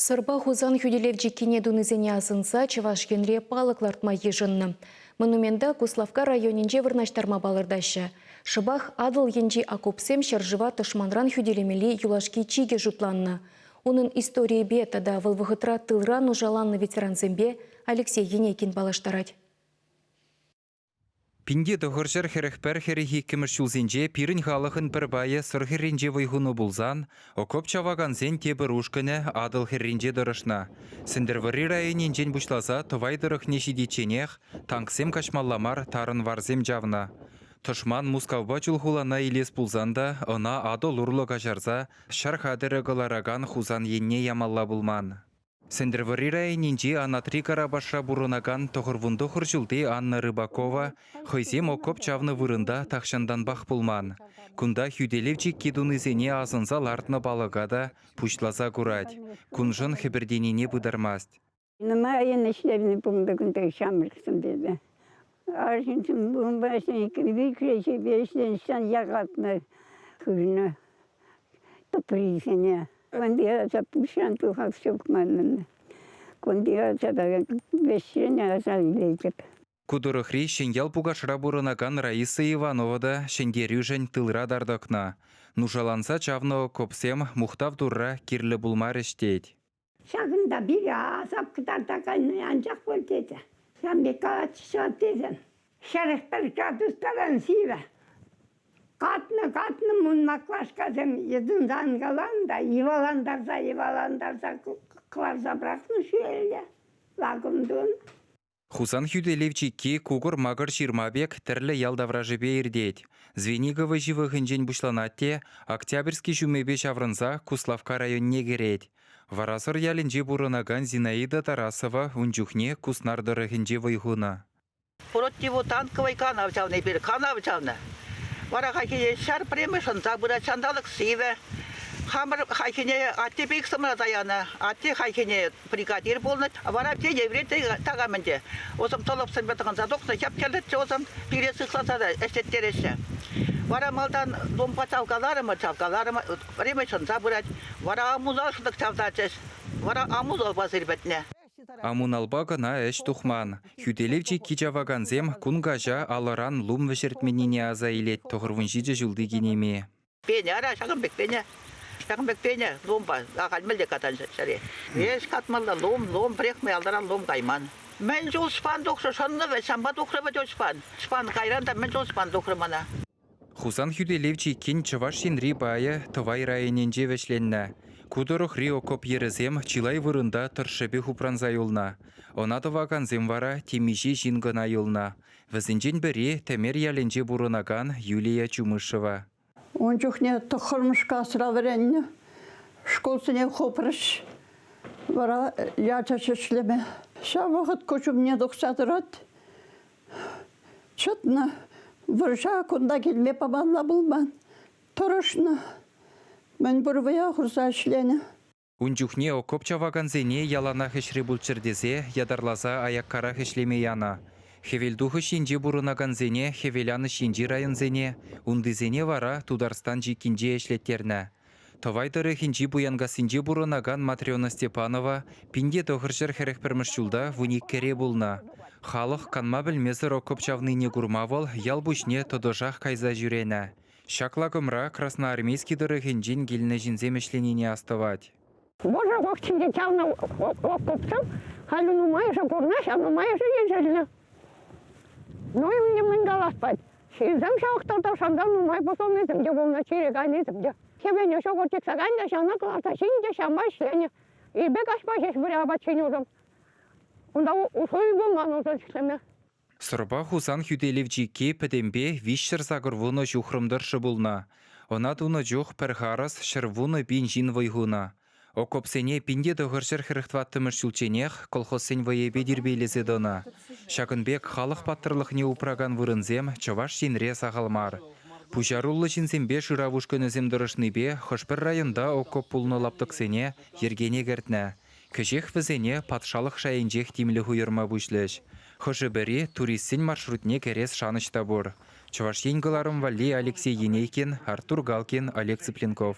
Сӑрпа Хусан хӳтӗлев чиккине тунисене асӑнса Чӑваш Енре палӑк лартма йышӑннӑ. Монумента Куславкка районӗнче вырнаҫтарма палӑртаҫҫӗ. Шӑпах Атӑл енчи окопсем ҫӗршыва тӑшманран хӳтӗлемелли юлашки чикӗ шутланнӑ. Унӑн историйӗпе тата вӑл вӑхӑтра тылра нушаланнӑ ветерансемпе Алексей Енекин паллаштарать. Пинте тӑхӑрҫӗр хӗрӗх пӗр хӗрӗх иккӗмӗш ҫулсенче пирӗн халӑхӑн пӗр пайӗ Сӑр хӗрринче вӑй хунӑ пулсан, окоп чавакансен тепӗр ушкӑнӗ Атӑл хӗрринче тӑрӑшнӑ. Сӗнтӗрвӑрри районӗнчен пуҫласа Тӑвай тӑрӑхне ҫитичченех танксем каҫмалла мар тарӑнварсем чавнӑ. Тӑшман Мускавпа Чулхулана илес пулсан та ӑна Атӑл урлӑ каҫарса ҫар хатӗрӗ кӑларакан Хусан енне ямалла пулман. Сӗнтӗрвӑрри районӗнчи Анатри Карапашра пурӑнакан тӑхӑрвунтӑхӑр ҫулти Анна Рыбакова хӑйсем окоп чавнӑ вырӑнта тахҫантанпах пулман. Кунта хӳтӗлев чикки тунисене асӑнса лартнӑ палӑка та пуҫласа курать. Куншӑн хӗпӗртенине пытармасть. Нумай ӗҫлевне пулнӑ кунта ҫамрӑксем тесе. Арҫынсем унпа ӗҫленӗскерӗн иккӗшӗпе ӗҫленӗҫтен якатнӑ хывнӑ тӑприсене. Кунти ача пуҫран тухас ҫук манӑн. Кунти ача та вӗҫҫӗн аса илетӗп. Ку тӑрӑхри Ҫӗньял Пукашра пурӑнакан Раиса Иванова та ҫӗнтерӳшӗн тылра тар тӑкнӑ. Нушаланса чавнӑ окопсем мухтав турра кирлӗ пулмарӗҫ тет. Ҫакӑнта пире асап кӑтартаканни анчах пур тесе. Ҫавӑн пек калатчӗҫ тесен хӗрӗх пӗр чатӑртаран сивӗ. Катнӑ-катнӑ мун маклашкасем йӑтӑнтанкалан та йӑвалантарса-йӑвалантарса кӑларса пӑрахнӑ ҫӳлелле лакӑм тунӑ. Хусан хӳтӗлев чикки кукӑр-макӑр ҫырма пек тӗрлӗ ял таврашӗпе иртет. Звенигово ҫывӑхӗнчен пуҫланать те Октябрьский ҫумӗпе ҫаврӑнса Куславкка районне кӗрет. Варасӑр ялӗнче пурӑнакан Зинаида Тарасова ун чухне Куснар тӑрӑхӗнче вӑй хунӑ. Противо танковый канав чавнӑ эпир, канав чавнӑ. Вара хайхине ҫар преми шӑнса пырать ҫанталӑк сивӗ. Хамӑр хайхине атте пек сӑмра таянӑ. Атте хайхине бригадир пулнӑ, вара те еврей такам ӗнтӗ. Усӑм тӑлӑпсемпе тӑхӑнса тухнӑ, хӗп-хӗрлӗччӗ усӑм, пире сыхласа та ӗҫлеттереҫҫӗ. Вара малтан думпа чавкаларӑмӑр, чавкаларӑмӑр, время ҫунса пырать. Вара амуна шӑтӑк чавтарчӗҫ. Вара амуналпа сирпӗтнӗ. Амуналпа кӑна ӗҫ тухман. Хӳтӗлев чикки чавакансем кун каҫа алӑран лум вӗҫертменнине аса илет тӑхӑрвунҫичӗ ҫулти кинеми. Пенӗ, ара, ҫакӑн пек пенӗ. Ҫакӑн пек пенӗ лумпа. Ахаль мӗнле катан ҫӗре. Эс катмалла лум, лум пӗрехме алтаран лум кайман. Мӗн чул шпан тухрӗ, шӑннӑ вӗт, ҫампа тухрӗ вӗт шпан. Шпан кайран та мӗн чул шпан тухрӗ мана. Хусан хӳтӗлев чиккин Чӑваш Енри пайӗ Тӑвай районӗнче вӗҫленнӗ. Ку тӑрӑхри окоп йӗрӗсем чылай вырӑнта тӑршшӗпех упранса юлнӑ. Ӑна тӑвакансем вара темиҫе ҫын кӑна юлнӑ. Вӗсенчен пӗри Тӗмер ялӗнче пурӑнакан Юлия Чумышева. Ун чухне тӑххӑрмӗш класра вӗреннӗ. Шкулсене хупрӗҫ. Вара ячӗ ҫӗҫлеме. Ҫав вӑхӑт куҫ умне тухса тӑрать. Чӑтнӑ. Вӑрҫа кунта килме памалла пулман. Тӑрӑшнӑ. Мӗн пур вӑя хурса ӗҫленӗ. Ун чухне окоп чавакансене яланах ӗҫре пулччӑр тесе ятарласа аяккарах ӗҫлеме янӑ. Хӗвелтухӑҫ енче пурӑнакансене хӗвеланӑҫ енчи районсене, унтисене вара Тутарстан чиккинче ӗҫлеттернӗ. Тӑвай тӑрӑхӗнчи Пуянкассинче пурӑнакан Матрена Степанова пин те тӑхӑр ҫӗр хӗрӗх пӗрмӗш ҫулта вуниккӗре пулнӑ. Халӑх канма пӗлмесӗр окоп чавнине курма вӑл ял пуҫне тӑтӑшах кайса ҫӳренӗ. Ҫак лакӑмра Красноармейски тӑрӑхӗнчен килнӗ ҫынсем ӗҫленине астӑвать. Вӑрҫӑ вахтинче чавнӑ окопсем халӗ нумайӑшӗ пурӑнаҫҫӗ, а нумайӑшӗ ешӗлнӗ. Ну и мӗн мӗн каласпать. Ҫынсем ҫавах тата шанса нумай пусӑлнисем те пулнӑ, чире кайнисем те. Кӗвене ҫӑкӑр типсакан та ҫанӑ кӑларса ҫин те ҫама ӗҫленӗ. Эпӗ каҫпа ҫеҫ выля апат ҫинӗ унӑм. Унта усӑ пулман унсӑр ӗҫлеме. Сӑрпа Хусан хӳтӗлев чикки пӗтӗмпе виҫҫӗр-сакӑр вунӑ ҫухрӑм тӑршшӗ пулнӑ. Ӑна тунӑ чух пӗр харӑс ҫӗр вунӑ пин ҫын вӑй хунӑ. Окопсене пин те тӑхӑр ҫӗр хӗрӗх тӑваттӑмӗш ҫулчченех колхозсен вӑйӗпе тирпейлесе тӑнӑ. Ҫакӑн пек халӑх паттӑрлӑхне упракан вырӑнсем Чӑваш Енре сахал мар. Пуҫаруллӑ ҫынсемпе шырав ушкӑнӗсем тӑрӑшнипе хӑш-пӗр районта окоп пулнӑ лаптӑксене йӗркене кӗртнӗ. Кӗҫех вӗсене патшалӑх шайӗнчех тимлӗх уйӑрма пуҫлӗҫ. Хӑшӗ-пӗри туристсен маршрутне кӗрес шанӑҫ та пур, Чӑваш Ен кӑларӑм валли Алексей Енейкин, Артур Галкин, Олег Цыпленков.